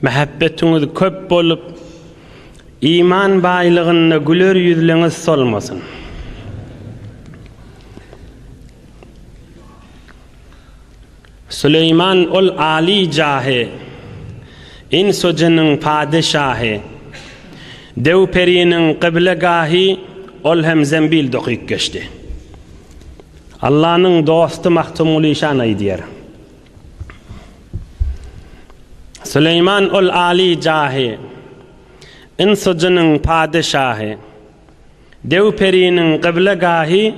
Mähebbetiňiz köp bolup, iman baýlygynda güler ýüzleriňiz solmasyn. Süleýman ol aly jahy, ins-u-jynyň padeşahy, dew-periniň kyblegahy, ol hem zembil dokyp geçdi. Allanyň dosty Magtymguly şan aýdýar. Süleýman ol aly jahy, Ins-u-jynyň padeşahy. Dew periniň gyblegahy,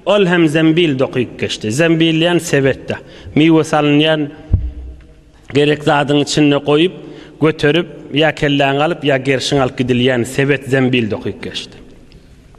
Ol hem zembil dokyp geçdi. Zembil diýen sebetde. Miwe salynýan gerek zadyň içinde goýup, göterip, ýa kelläňi alyp, ýa gerşiňi alyp gidilýän sebet zembil dokyp geçdi.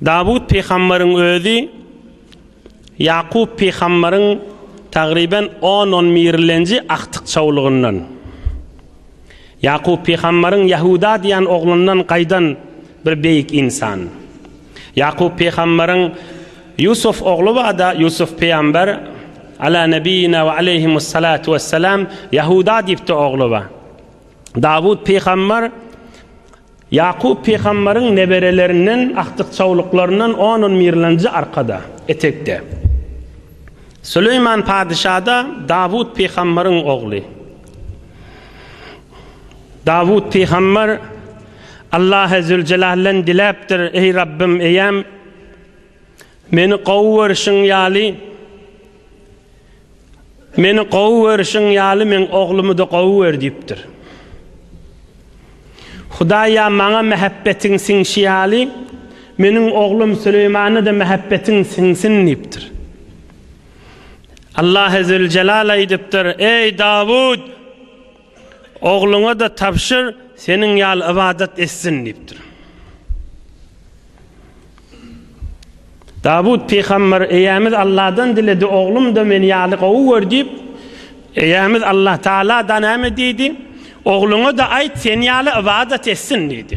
Dawut pygambaryň özi Ýakup pygambaryň tagryban on-on birlenji agtyk çawlugyndan. Ýakup pygambaryň Ýahuda diýen oglundan gaýdan bir beýik ynsan. Ýakup pygambaryň Ýusuf ogly bar-da, Ýusuf pygambar, Ala nebiýina we aleýhimussalatu wessalam, Ýahuda diýip-de ogly bar. Dawut pygambar. Ýakup pygamberyň neberelerinden agtyk-çawluklaryndan on-on mirlenji arkada, etekde. Süleýman padyşa-da Dawut pygamberyň ogly. Dawut pygamber Allahy Züljelaldan diläpdir, Eý Rabbym, eýäm, Meni gowy görşüň ýaly Meni gowy görşüň ýaly meň oglumyda gowy gör diýipdir. Hudaý ýa maňa mähebbetiň siňşi ýaly, meniň oglum Süleýmana-da mähebbetiň siňsin diýipdir. Allah Züljelal aýdypdyr, Eý Dawut! Ogluňa-da tabşyr, seniň ýaly ybadat etsin diýipdir. Dawut pygamber eýämiz Allahdan diledi, oglum-da meni ýaly gowy gör diýip, eýämiz Allah Tagala-da näme diýdi? Ogluňa-da aýt, seni ýaly ybadat etsin diýdi.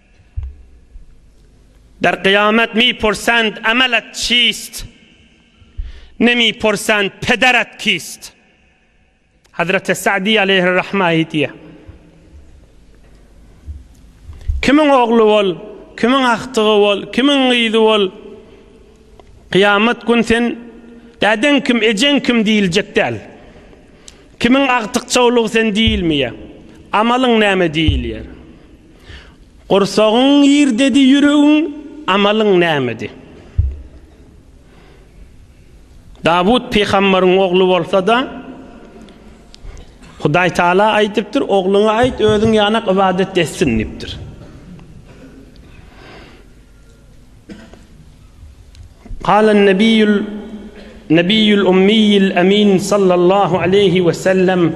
Der Gyýamet mi porsent emel et çist, ne mi porsent peder et kist. Hazreti Sa'di aleyhir rahme aýdýar. Kimiň ogly bol, kimiň agtygy bol, kimiň gyzy bol, Gyýamet gün sen dädeň kim, ejeň kim diýiljek däl. Kimiň agtykçawlygy sen diýilmeýär. Amalyň näme diýilýär. Gursagyň girdedi ýüregiň amalyň nämedi? Dawut pygambaryň ogly bolsa-da, Hudaý Taala aýdypdyr, Ogluňa aýt, özüň ýanak ybadat etsin diýipdir. Galan nebiyul nebiyul ummiyil amin sallallahu aleyhi we sellem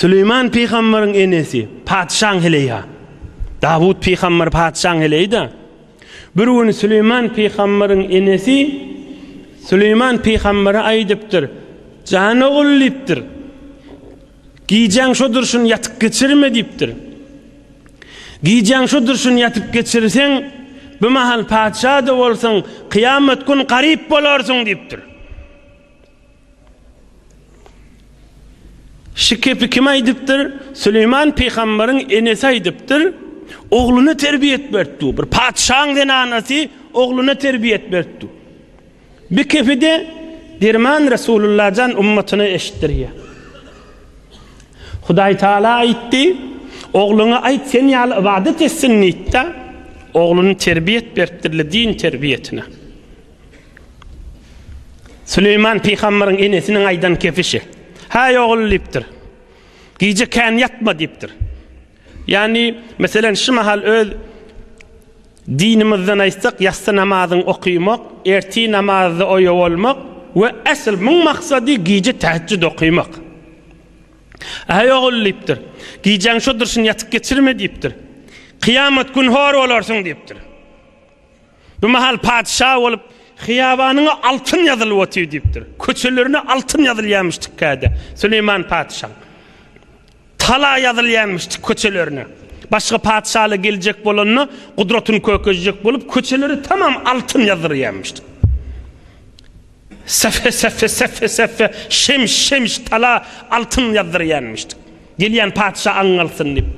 Süleýman pygamberiň enesi, patyşaň heleýi-ha. Dawut pygamber patyşaň heleýi-da. Bir gün Süleýman pygamberiň enesi Süleýman pygambere aýdypdyr, Jan ogul diýipdir, gijäň şu durşun ýatyp geçirme diýipdir. Gijäň şu durşun ýatyp geçirseň, bimahal patyşa-da bolsaň, kyýamat gün garyp bolarsyň diýipdir. Şu gepi kim aýdypdyr? Süleýman pygambaryň enesi aýdypdyr, Ogluna terbiýet beripdi. Bir patyşaň zenanasy ogluna terbiýet beripdi. Bir gepi-de derman Resulullah jan ummatyna eşitdirýär. Hudaý Taala aýtdy, Ogluňa aýt, sen ýaly ybadat etsin diýip-de, ogluny terbiýet beripdir-le din terbiýetine. Süleýman pygamberiň enesiniň aýdan kepişi. Häý ogul diýipdir. Gije kän ýatma diýipdir. Ýagny, meselen, şu mahal öz dinimizden aýtsak, ýassy namazyny okaýmak, ertir namazda oýa bolmak we esl muň maksady gije täheçjüd okaýmak. Häý ogul diýipdir. Gijäň şo durşuny ýatyp geçirme diýipdir. Kyýamat gün hor bolarsyň diýipdir. Bu mahal patyşa bolup, Hyýabanyňa altyn ýazylyp otyr diýipdir. Köçelerine altyn ýazylýarmyş tikkäde. Süleýman patyşaň tala ýazylýarmyş tik köçelerine. Başga patyşalar geljek bolanda, gudratyny kökezjek bolup, köçeleri tamam altyn ýazdyrýarmyş. Sefe, sefe, sefe, sefe, şems, şems, tala, altyn ýazdyrýarmyş. Gelýän patyşa aň alsyn diýip.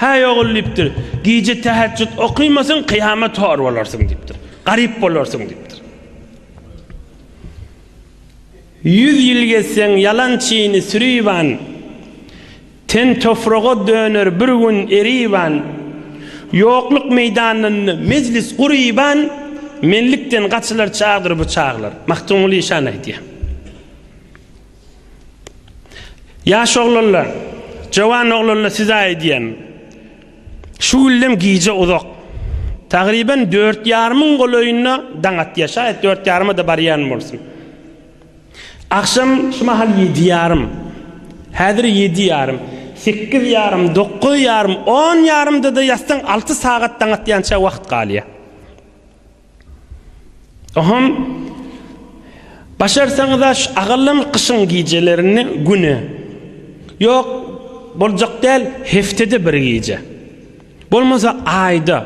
Häý, ogul diýipdir, gije täheçjüt okymasaň, kyýamat hor bolarsyň diýipdir. Garyp bolarsyň diýipdir. Ýüz ýyl gezseň ýalan çyny süriban, ten tofraga döner bir gün eriban. Ýokluk meýdanynda mejlis guryban, menlikden gaçylar çagdyr bu çaglar. Magtymguly şany aýdýar. Ýaş oglanlar, jowan oglanlar size aýdýan. Şu güllem gije uzak. Tagryban dört ýarymyň golaýynda daň atýar. Şaýat dört ýaryma-da barýan bolsun. Agşam şu mahal ýedi ýarym. Häzir ýedi ýarym. Sekiz ýarym, dokuz ýarym, on ýarymda-da ýatsaň alty sagat daň atýança wagt galýar. Ohum, başarsaňyz-a şu agallan gyşyň gijelerinde güne, ýok, boljak däl, heftede bir gije, bolmasa aýda,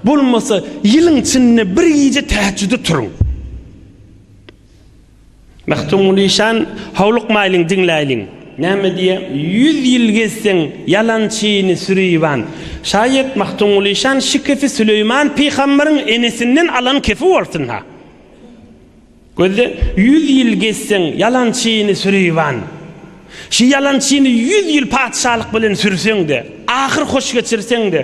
bolmasa ýylyň çynynda bir gije täheçjüde turuň. Magtymguly şan, howlukmaýlyň, diňläýliň. Näme diýýär? Ýüz ýyl gezseň, ýalançyny süriban. Şaýat Magtymguly şan şy kefi Süleýman pygamberiň enesinden alan kefi bolsun-ha. Gözle, ýüz ýyl gezseň, ýalançyny süriban. Şy ýalançyny ýüz ýyl patyşalyk bilen sürseň-de, ahyr hoş geçirseň-de.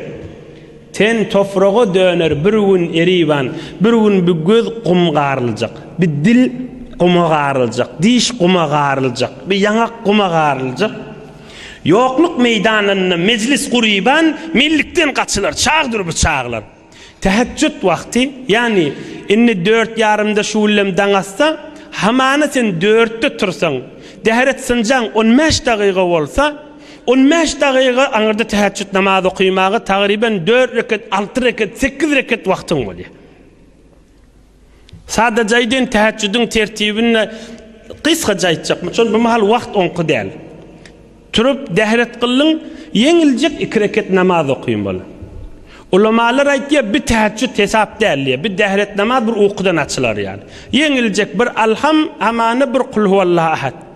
Ten topraga döner bir gün eriban, bir gün bi göz gum garyljak, bi dil guma garyljak, diş guma garyljak, bi ýaňak guma garyljak. Ýokluk meýdanynda mejlis guriban, mellikden gaçylar, çagdyr bi çaglar. Tähejjüt wagty, ýagny indi dört ýarymda şu güllem daň atsa, hamana sen dörtde tursaň, däret synjaň on bäş dagyga bolsa, On bäş dagyga aňyrda täheçjüt namazy okymaga tagryban dört rekat, alty rekat, sekiz rekat wagtyň bolýar. Sadaja aýdyn täheçjüdiň tertibini gysgaja aýtjakmy? Çünki bu mahal wagt oňky däl. Turup dehret gylyň, ýeňiljek iki rekat namaz okyň bol. Ulamalar aýtýar, bir täheçjüt hesap däl diýýär. Bir dehret namaz bir ukudan açylar ýaly. Ýeňiljek bir Alham, Amana bir Kul huwallahu ahad.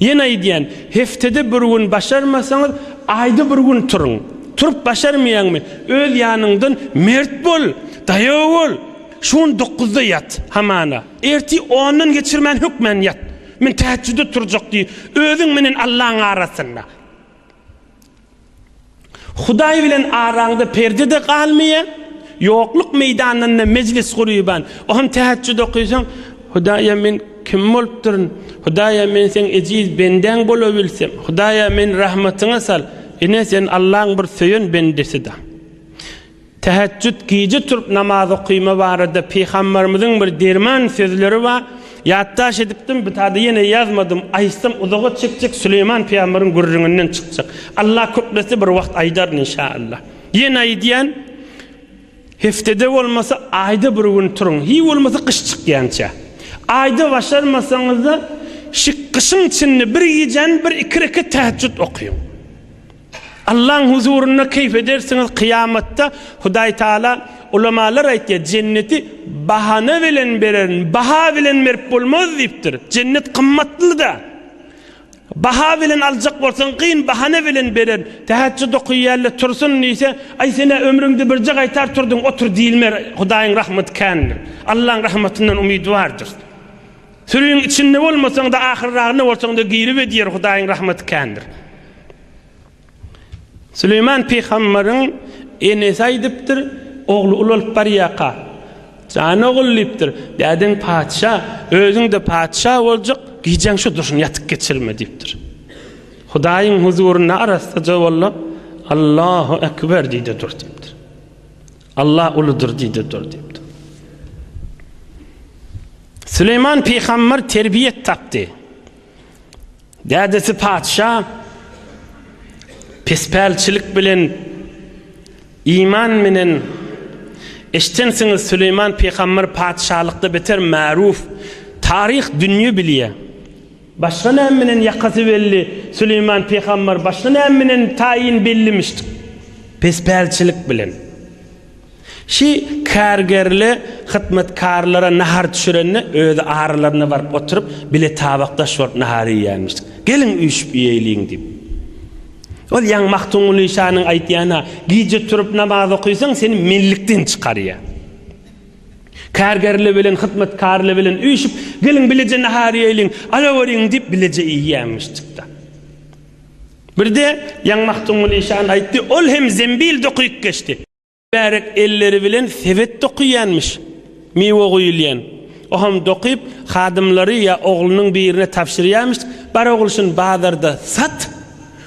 Ýene aýdýan, heftede bir gün başarmasaňyz, aýda bir gün turuň. Turup başarmaýaňmy, öz ýanyňdan mert bol, daýaw bol. Şu gün dokuzda ýat, hamana. Ertir ondan geçirmän hökmän ýat. Men täheçjüde turjak diý, özüň menen Allaň arasynda. Hudaý bilen araňda perde-de galmaýar. Ýokluk meýdanynda mejlis gurýban. O hem täheçjüt okysaň, Hudaý-a men kim bolupdyryn? Hudaý-a men seň ejiz bendäň bolabilsem. Hudaý-a meni rahmatyňa sal. Ine sen Allaň bir söýen bendesi-da. Tähejjüt, gije turup namaz okyma barada Pygambarymyzyň bir derman sözleri bar, ýatdaş edipdim, btada ýene ýazmadym, aýtsam uzaga çekjek, Süleýman pygambaryň gürrüňinden çykjak. Allah köklese bir wagt aýdaryn inşaallah. Ýene aýdýan, Heftede bolmasa aýda bir gün turuň, hiý bolmasa gyş çykýança. Aýda başarmasaňyzda, şik gyşyň içinde bir gijäni bir iki rekat tähejjüt okyň. Allaň huzurynda keýp edersiňiz kyýamatda Hudaý Taala Ulamalar aýtýar jenneti bahana bilen bererin baha bilen berip bolmaz diýipdir jennet gymmatlyda baha bilen aljak bolsaň gyn bahana bilen berer tähejjüd okyýarlar tursun diýse aý senä ömrüňde birje gaýtar turdyň otur diýilmer Hudaýyň rahmaty kändir Allaň rahmatyndan umyt bardyr. Sürüň içinde bolmasaňda ahyrragynda bolsaňda giribed ýer Hudaýyň rahmaty kändir. Süleýman pygamberiň enesi aýdypdyr, ogly ulalyp barýaka, Jan ogul diýipdir, dädeň patyşa, özüňde patyşa boljak, gijäň şu dursun ýatyp geçirme diýipdir. Hudaýyň huzurynda arassaja bolla, Allahu ekber diýde dur diýipdir. Allah uludyr diýdi dur diýipdir. Süleýman pygamber terbiýet tapdy. Dädesi patyşa pespälçilik bilen iman menen eşdensiňiz Süleýman pygamber patyşalykda beter märuf taryh dünýe bilýär. Başga näme menen ýakasy belli Süleýman pygambar başga näme menen taýyn bellimişdik? Pespälçilik bilen. Şi kärgerli hytmatkarlara nahar düşürende özi aralarynda baryp oturyp bile tabakdaş bolup nahar iýýärmişdik. Geliň üýşüp iýeýliň diýip. Ol ýaňy Magtymguly şanyň aýtýan-a, Gije turup namaz okysaň seni mellikden çykarýar. Kärgerli bilen hyzmatkärli bilen üýşüp, Geliň, bileje nahar iýeýliň, alaweriň diýip, bileje iýýärmişjik-de. Birde Ýaň Magtymguly işan aýtdy, ol hem zembil dokyp geçdi. Mübärek elleri bilen sebet dokyýanmyş, miwe guýulýan. Ohem dokyp, hadymlary ýa oglunyň birine tabşyrýarmyş, Bar ogulşyn, bazarda sat.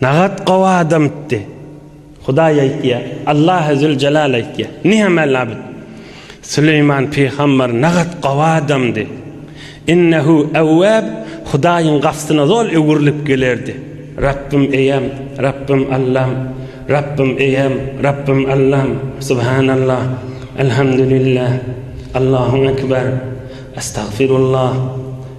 Nagat gowy adamtdy. Hudaý aýtýa, Allahy Züljelal aýtýa. Nihamel labid. Süleýman pygamber nagat gowy adamdy. Innehu Awwab Hudaýyň gapsyna zol öwrülip gelerdi. Rabbym eýem, Rabbym Allam, Rabbym eýem, Rabbym Allam, Subhanallah, Elhamdülillah, Allahu Ekber, Estagfirullah,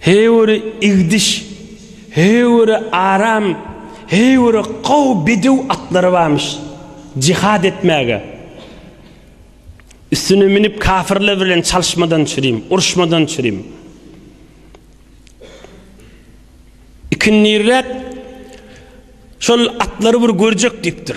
Heýwiri igdiş, heýwiri aram, heýwiri gowy bedew atlary barmyş. Jihad etmäge. Üstüne münüp kafirler bilen çalyşmadan çürim, uruşmadan çürim. Ikindirräk şol atlary bir görjek diýipdir.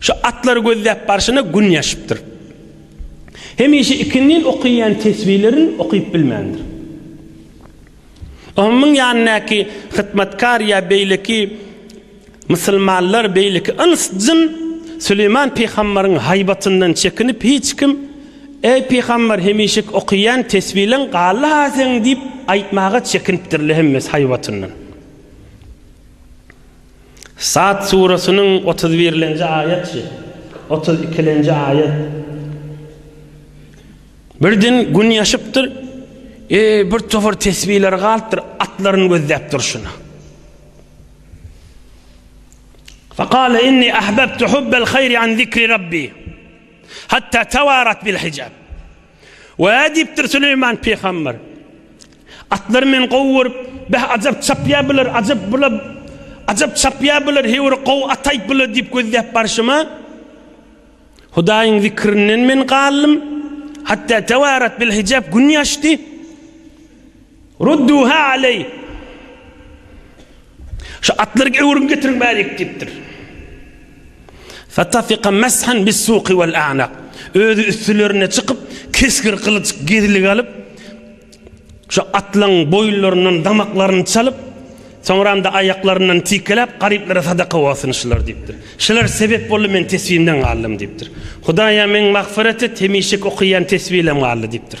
Şu atlary gözläp barşyna gün ýaşypdyr. Hemişe ikindin okaýan tesbilerin okyp bilmändir. Onuň ýanyndaky hytmatkar ýa beýleki musulmanlar, beýleki ins-jyn Süleýman pygambaryň haýbatyndan çekinip hiç kim, Eý pygambar, hemişek okaýan tesbileň galdy-ha seň diýip aýtmaga çekinipdirler hemmesi haýbatyndan. Sad suresynyň otuz birinji aýat, otuz ikinji aýat. Birden gün ýaşypdyr, e, bir topar tesbileri galypdyr, atlaryny gözläp durşuna. Fakale inni ahbabtu hubbel hayri an zikri rabbi. Hatta tevarat bil hicab. Wä diýipdir Süleýman pygamber. Atlary men gowy görüp, beh ajap çapýar bular, ajap bula, ajap çapýar bular, heý bir gowy at aýt bula diýip gözläp barşyma, Hudaýyň zikrinden men galdym, hatda tewarat bil hijap gün ýaşdy. Rudduha aleyh. Şu atlary öwrüm getiriň bärik diýipdir. Fatafika meshan bis-suki wal-a'naq. Özi üstülerine çykyp, kesgir gylyç gezligi alyp, şu atlaryň boýunlaryndan damaklaryny çalyp, soňram-da aýaklaryndan tikiläp, garyplara sadaka bolsun şular diýipdir. Şular sebep boldy, men tesbimden galdym diýipdir. Hudaýa meň magfyrat et, hemişe okaýan tesbim galdy diýipdir.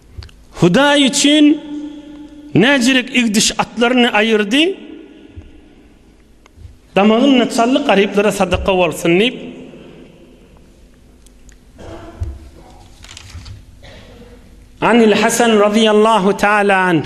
Hudaý üçin näzirek igdiş atlaryny aýyrdy, damagynda çally garyplara sadaka bolsun diýip, Anil Hasan razyýallahu taala anh,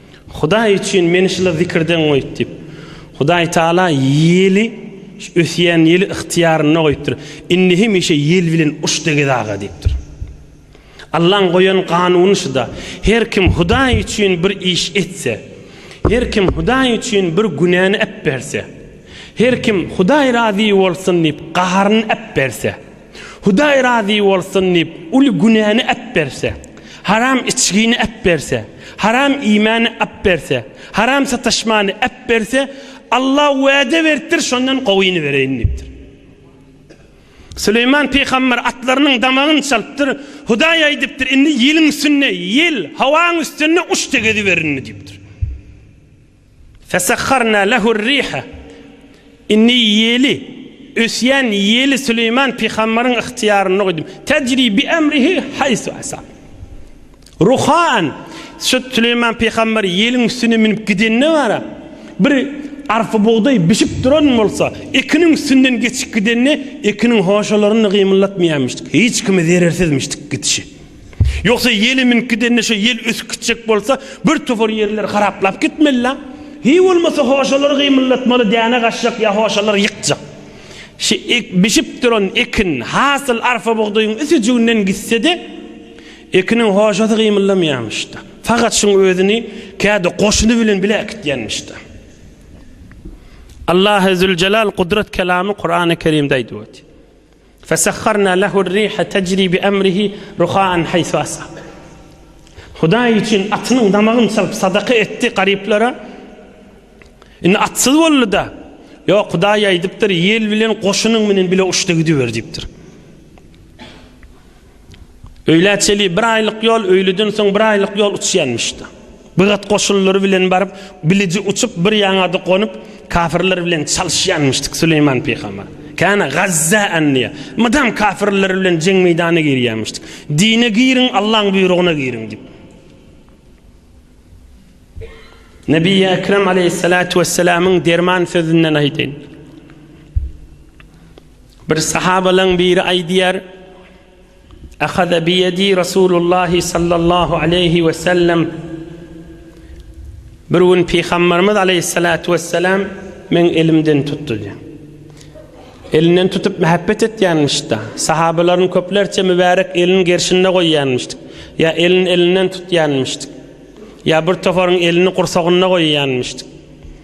Hudaý üçin meni şyla zikirden goýup diýip. Hudaý Taala ýeli ösýän ýeli ygtyýarynda goýupdyr. Indi hemişe ýel bilen uç degez aga diýipdir. Allaň goýan kanuny şuda. Her kim Hudaý üçin bir iş etse, her kim Hudaý üçin bir günäni äpberse, her kim Hudaý razy bolsun diýip gaharyny äpberse, Hudaý razy bolsun diýip, uly günäni äpberse, haram içgini äpberse, haram iýmäni äpberse, haram sataşmany äpberse, Alla wäde beripdir, şondan gowyny bereýin diýipdir. Süleýman pygamber atlarynyň damagyny çalypdyr, Hudaý aýdypdyr, indi ýeliň üstünde, ýel, howaň üstünde uçda geziberin diýipdir. Fesahharna lehur-riha Indi ýeli, ösýän ýeli Süleýman pygamberiň ygtyýarynda goýdum. Tejri bi emrihi haýsu asab. Ruhaan, şu Süleýman pygamber ýeliň üstüne münüp gidende bara, bir arpa bugdaý bişip duran bolsa, ekiniň üstünden geçip gidende, ekiniň hoşalaryny gymyldatmaýarmyşdyk. Hiç kime zerersizmişdik gidişi. Ýogsa ýeli mink gidende şo ýel ösüp gitjek bolsa bir topar ýerler haraplap gitmelila. Hiý bolmasa hoşalary gymyldatmaly däne gaçjak ýa hoşalary ýykjak. Şi ek bişip duran ekin hasyl arfa bugdaýyň üsijiginden gitsede ekiniň hoşasy gymyldamaýamyşda. Fagat şuň özüni käde goşuny bilen bile äkitýänmişda. Allahy Züljelal Gudrat kelamy Kurany Kerimde aýdyp oty. Fesahharna lehu r-riha tejri bi emrihi ruhaan haýsu asab. Hudaý üçin atynyň damagyny çalyp sadaka etdi garyplara. Indi atsyz boldy-da, Ýok, Hudaý aýdypdyr, Ýel bilen goşunyň bilen bile uçdy gidiber diýipdir. Öýlä çeli bir aýlyk ýol, öýlüden soň bir aýlyk ýol uçýanmyş-da. Bigat goşunlary bilen baryp, biliji uçup bir ýaňada gonup, kafirler bilen çalyşýanmyşdyk Süleýman pygamber. Kana Gazza anniýa. Mydam kafirler bilen jeň meýdana girýänmişdik. Dine giriň, Allaň buýrugyna giriň diýip. Nebi Ekrem aleyhissalatu vesselamyň derman sözünden aýdaýyn. Bir sahabalaň biri aýdýar, Ahaza bi ýedi Rasulullahi sallallahu aleýhi we sellem, Bir gün Pygambarymyz aleýhissalatu wessalam meň elimden tutdy. Elinden tutup mähäbbet etýänmiş-da. Sahabalaryň köplerçe mübärek elini gerşinde goýýanmyşdyk. Ýa elini elinden tutýanmyşdyk. Ýa bir toparyň elini gursagynda goýýanmyşdyk.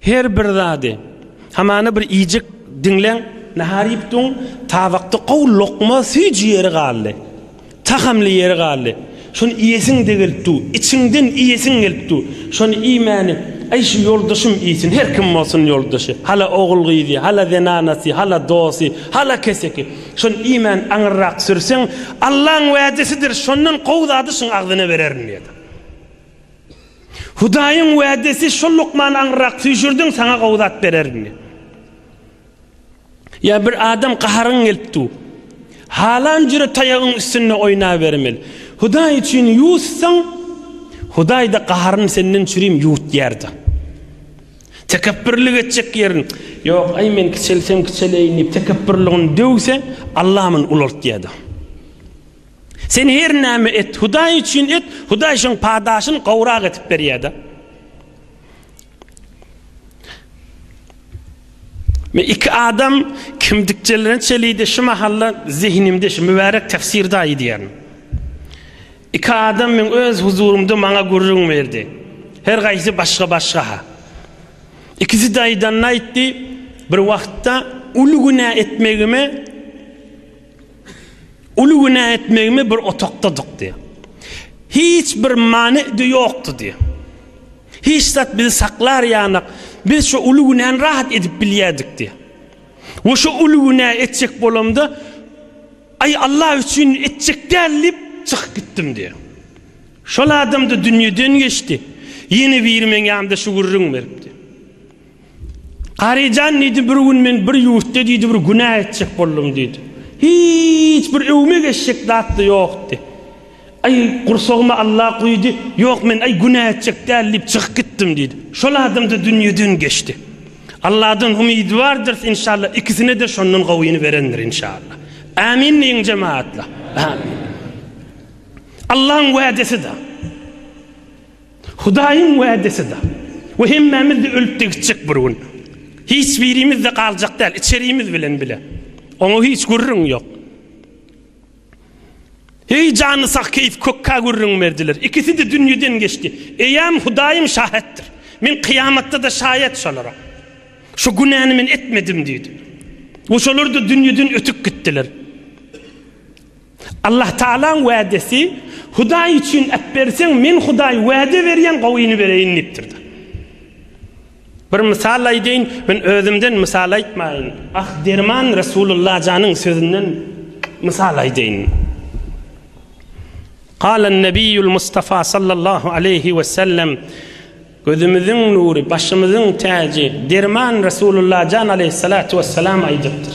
Her bir zady, hamana bir iýjek diňleň, nahar iýipdiň, tabakda gowy lokma süýji ýeri galdy, tahamly ýeri galdy, şony iýesiň-de gelip dur, içiňden iýesiň gelip dur, şony iýmäni, aý, şu ýoldaşym iýsin, her kim bolsun ýoldaşy, hala ogul-gyzy, hala zenanasy, hala dosty, hala keseki, şony iýmän aňyrrak sürseň, Allaň wädesidir, şondan gowy zady şuň agzyna bererin diýýärdi. Hudaýyň wädesi şol lukmany aňyrrak süýşürdiň saňa gowy zat bererin diýip. Ýa bir adam gaharyň gelip dur. Halan jüre taýagyň üstünde oýnabermeli. Hudaý üçin ýuwutsaň, Hudaýda gaharyny senden çürim ýuwutýarda. Tekepbirlik etjek ýerin, Ýok, aý men kiçelsem kiçeleýin diýip tekepbirligini döwse, Alla muny ulaltýarda. Sen her näme et, Hudaý üçin et, Hudaý şoň padaşyny gowrak edip berýär-de. Men iki adam kimdikçelerini çelidi şu mahalla zihnimde şu mübarek tefsir daýy diýerin. İki adam men öz huzurumda maňa gürrüň berdi. Her gaýsy başga başga ha. İkisi daýdan aýtdy, bir wagtda uly günä etmegime Uly günä etmegimi bir otagdadyk diýýär. Hiç bir many-de ýokdy diýýär. Hiç zat bizi saklar ýanak, biz şu uly günäni rahat edip bilýärdik diýýär. We şu uly günä etjek bolamda, Aý, Allah üçin etjek däl diýip, çykyp gitdim diýýär. Şol adam-da dünýeden geçdi. Ýene biri meň ýanymda şu gürrüňi beripdi. Garyjan diýdi, bir gün men bir ýurtda diýdi, bir günä etjek boldum diýdi. Hiç bir öwme geçjek zat-da ýokdy. Aý, gursagyma Alla guýdy, ýok men, aý, günä etjek däl diýip çykyp gitdim diýdi. Şol adam-da dünýeden geçdi. Alladan umydy bardyrys inşallah, ikisine-de şondan gowyny berendir inşallah. Ämin diýiň jemagatlar. Ämin. Allaň wädesi-da. Hudaýyň wädesi-da. We hemmämiz-de ölüp-de gitjek bir gün. Hiç birimiz-de galjak däl, içerimiz bilen bile. Oňa hiç gürrüň ýok. Heý, jany sag keýp kökkä gürrüň berdiler. Ikisi-de dünýeden geçdi. Eýäm, Hudaýym şähetdir. Men kyýamatda-da şaýat şolara. Şu günäni men etmedim diýdi. We şolar-da dünýeden ötüp gitdiler. Allahtagalaň wädesi, Hudaý üçin äpberseň, Men Hudaý wäde berýän gowyny bereýin diýipdir. Bir mysal aýdaýyn, men özümden mysal aýtmaýyn. Ah, derman Resulullah janyň sözünden mysal aýdaýyn. Galan Nebiýul Mustafa sallallahu aleýhi we sellem gözümiziň nury, başymyzyň täji, derman Resulullah jan aleýhissalatu wessalam aýdypdyr.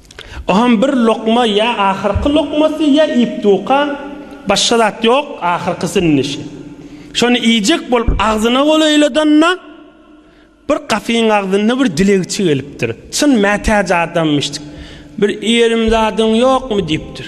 O hem bir lokma ýa ahyrky lokmasy ýa ip-duka, başga zat ýok, ahyrky sünnüşi. Şony iýjek bolup agzyna gol oýladanda, bir gapyň agzynda bir dilegçi gelipdir. Çyn mätäç adamymyş. Bir ýerim zadyň ýokmy diýipdir.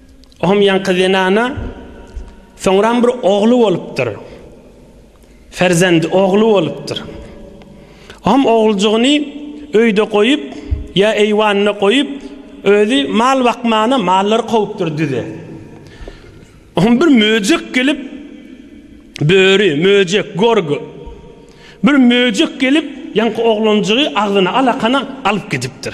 Oňam ýaňky zenana soňram bir ogly bolupdyr. Ferzendi ogly bolupdyr. Oňam oguljygyny öýde goýup, ýa eýwanda goýup, özi mal bakmana mallary kowupdyr düze. Oňam bir möjek gelip, böri, möjek, gorgy, bir möjek gelip, ýaňky oglanjygy agzyna alakana alyp gidipdir.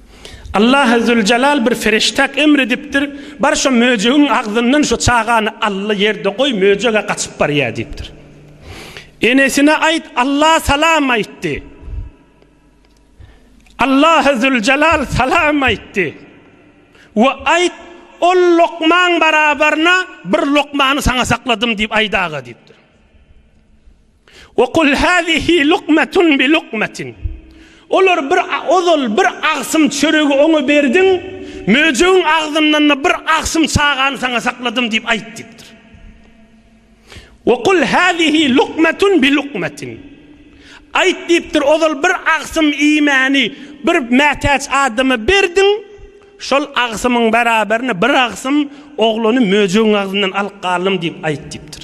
Allahy Züljelal bir feriştäk emr edipdir, Bar şo möjegiň agzyndan şo çagany ally ýerde goý, möjeg-ä gaçyp barýar diýipdir. Enesine aýt, Alla salam aýtdy. Allahy Züljelal salam aýtdy we aýt, Ol lokmaň barabaryna bir lokmany saňa sakladym diýip aýdaga diýipdir. Ve kul hâzihi lukmetun bi lukmetin. Olar bir ozal bir agsym çöregi oňa berdiň, möjegiň agzyndan-da bir agsym çagany saňa sakladym diýip aýt diýipdir. Ve kul hâzihi lukmetun bi lukmetin. Aýt diýipdir, ozal bir agsym iýmäni bir mätäç adama berdiň, şol agsymyň beraberini bir agsym oglany möjegiň agzyndan alyp galdym diýip aýt diýipdir.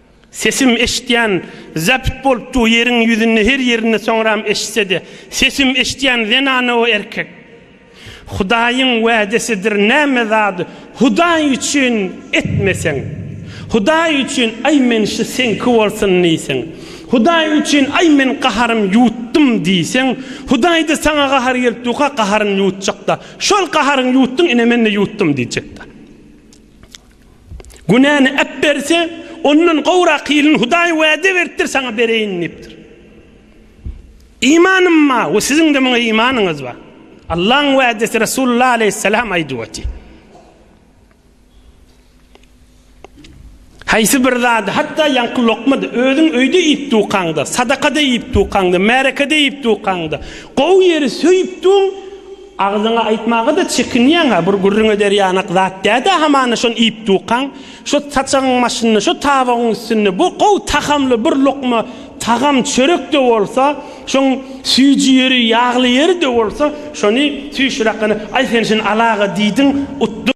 Sesim eşitýän zabit bolup dur ýeriň ýüzünde her ýerinde soňram eşitsede sesim eşitýän zenana we erkek Hudaýyň wädesidir näme zady Hudaý üçin etmeseň Hudaý üçin aý men şu seňki bolsun diýseň Hudaý üçin aý men gaharym ýutdum diýseň Hudaýda saňa gahar gelip durka gaharyn ýutjakda şol gaharyň ýutdun ine mende ýutdum diýjekda. Günäni äpberse, ondan gowrak hilini Hudaý wada beripdir, saňa bereýin diýipdir. Imanym ma we siziňde muňa imanyňyz ba. Allaň wadasy Resulullah aleýhissalam aýdyp oty. Haýsy bir zady, hatda ýaňky lokmady, özüň öýde iýip dukaňda, sadakada iýip dukaňda, märekede iýip dukaňda, gowy ýeri söýüpdiň, Agzyňa aýtmaga-da çekinýäň-a, bir gürrüň eder ýanak zat däl-dä hamana şony iýip dukaň. Şo saçagyň başynda, şo tabagyň üstünde bu gowy tagamly bir lukma tagam, çörek-de bolsa, şoň süýji ýeri, ýagly ýeri-de bolsa, şony süýşüräkgene, aý sen şuny al aga diýdiň, utdyň.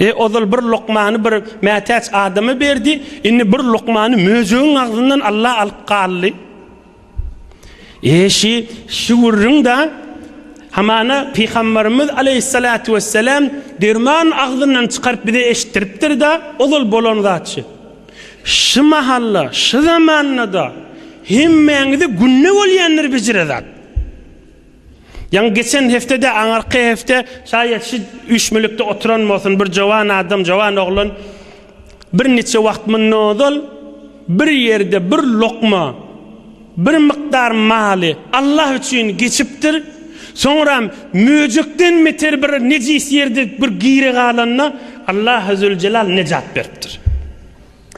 E, ozal bir lukmany bir mätäç adama berdi, indi bir lukmany möjegiň agzyndan Alla alyp galdy. E, şi, şi gürrüň-da, hamana Pygambarymyz aleýhissalatu wesselam derman agzyndan çykaryp bize eşitdiripdir-da, ozal bolan zat şi. Şi mahal-da, şi zaman-da hemmäňize günde bolýandyr bejire zat. Ýaňy geçen hepde-de, aňyrky hepde, şaýat şu üýşmülikde oturan bolsun, bir jowan adam, jowan oglan birniçe wagt mundan ozal bir ýerde bir lokma, bir mukdar maly Allah üçin geçipdir, soňram möjekden beter bir nejis ýerde bir giri galanda, Allahuzüljelal nejat beripdir.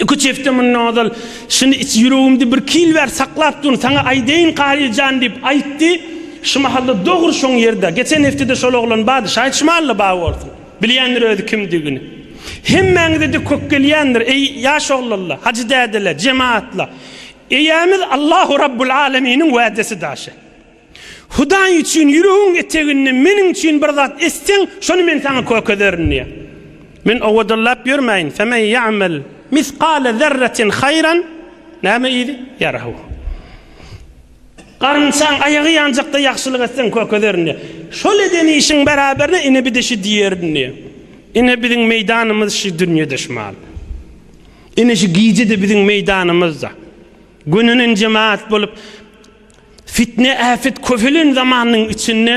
Iki-üç hepde mundan ozal, Şuny iç, ýüregimde bir kil bar, saklap dur, saňa aýdaýyn Karyl jan diýip aýtdy. Şu mahal-da dogry şoň ýerde. Geçen hepde-de şol oglan bardy. Şaýyt-şum Alla bar bolsun. Bilýändir özi kimdigini. Hemmäňize-de kök gelýändir, eý, ýaş oglanlar, hajy dädeler, jemagatlar. Eýämiz Allahu Rabbul Alaminiň wädesi daşy. Hudaý üçin ýüregiň eteginde meniň üçin bir zat etseň, şony men saňa kökezderin diýýär. Men owadallap ýörmäýin. Femen ýa'mel misgale zerretin haýran, näme idi? Ýarahu. Garynçaň aýagy ýanjakda ýagşylyk etseň, kökezderin diýýär. Şol eden işiň beraberine ine bir-de şu diýerin diýýär. Ine biziň meýdanymyz şu dünýede şu mahaly. Ine şu gije-de biziň meýdanymyzda. Gönenen jemaat bolup, Fitne-äpet köpelen zamanyň içinde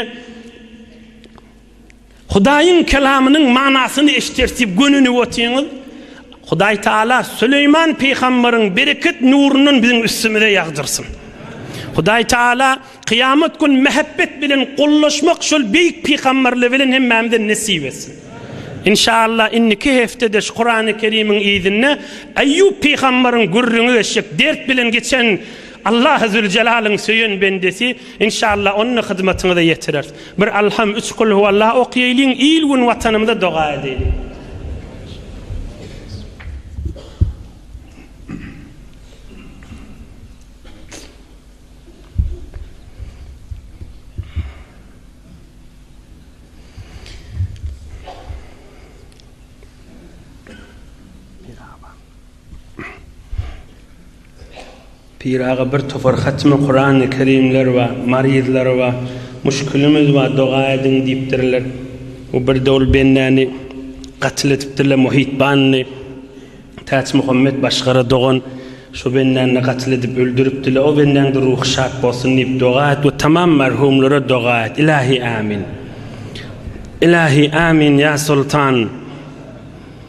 Hudaýyň kelamynyň manysyny eşdertip gönünip otyňyz. Hudaý Taala Süleýman pygamberyň bereket nurundan biziň üstümize ýagdyrsyn. Hudaý Taala kyýamat gün mähebbet bilen gollaşmak şol beýik pygamberle bilen hemmämize nesip etsin. Inşaallah indiki hepdede şu Kurany Kerimiň yzynda Eýýup pygamberyň gürrüňi geçjek, dert bilen geçen Allahy Züljelalyn söýen bendesi inşallah ony hyzmatyňyza ýetirer. Bir Alham üç Kul huwallah okýaýlyň il gün watanymyza doga edäýliň. Pir aga bir topar hatymy kurany kerimler bar maryzlar bar muşkilimiz bar doga ediň diýipdirler we birde ol bendäni gatyl edipdirler muhit banny täç muhammet başgara dogan şo bendänini gatyl edip öldüripdirler o bendäňde ruhy şat bolsun diýip doga et we tamam merhumlara doga et ilahi amin ilahi amin ýa soltan.